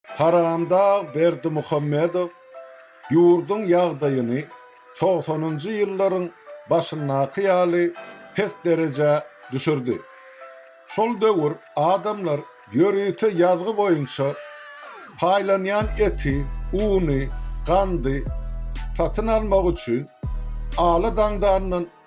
Haramdag Berdimuhamedow ýurduň ýagdaýyny togsanynjy ýyllaryň başyndaky ýaly pes derejä düşürdi. Şol döwür adamlar ýörite ýazgy boýunça paýlanýan eti, uny, gandy satyn almak üçin ala daňdandan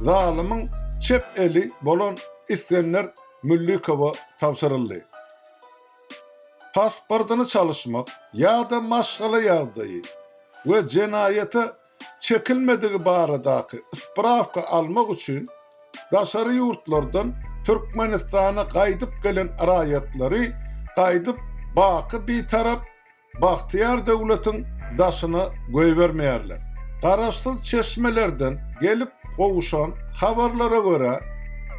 Zalymyň çep eli bolan Isgender Müllikowa tabşyryldy. Pasportyny çalyşmak ýa-da maşgala ýagdaýy we jenaýata çekilmedigi baradaky sprawka almak üçin daşary ýurtlardan Türkmenistana gaýdyp gelen raýatlary gaýdyp baky Bitarap bagtyýar döwletiň daşyna goýbermeýärler. Garaşsyz çeşmelerden gelip gowuşan habarlara görä,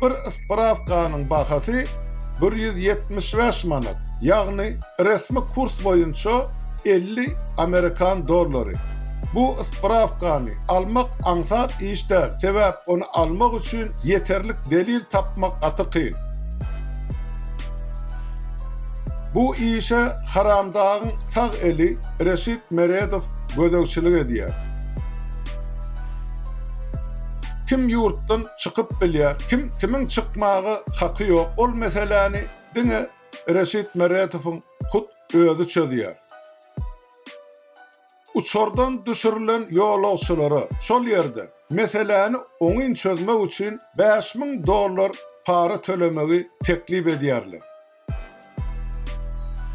bir sprawkanyň bahasy bir ýüz ýetmiş bäş manat, ýagny resmi kurs boýunça elli amerikan dollary. Bu sprawkany almak aňsat iş däl, sebäp ony almak üçin ýeterlik delil tapmak gaty kyn. Bu işe Haramdagyň sag eli Reşit Meredow gözegçilik edýär. Kim ýurtdan çykyp bilýär, kim kimiň çykmaga haky ýok, ol meseläni diňe Reşit Meredowyň hut özi çözýär. Uçardan düşürilen ýolagçylara şol ýerde meseläni oňyn çözmek üçin bäş müň dollar para tölemegi teklip edýärler.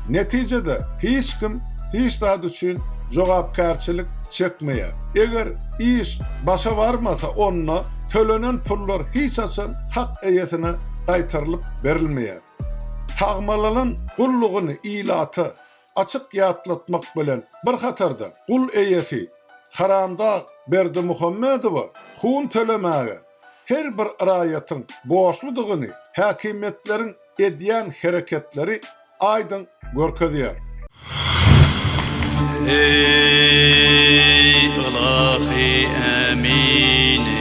Netijede, hiç kim hiç zat üçin jogapkärçilik çekmeýär. Eger iş başa barmasa, onda tölenen pullar hiç haçan hak eýesine gaýtarylyp berilmeýär. Tagmalalan gullugyny ilata açyk ýatlatmak bilen bir hatarda, gul eýesi Haramdag Berdimuhamedowa hun tölemäge her bir raýatyň borçludygyny häkimiýetleriň edýän hereketleri aýdyň görkezýär. Eý, ylahy ämini!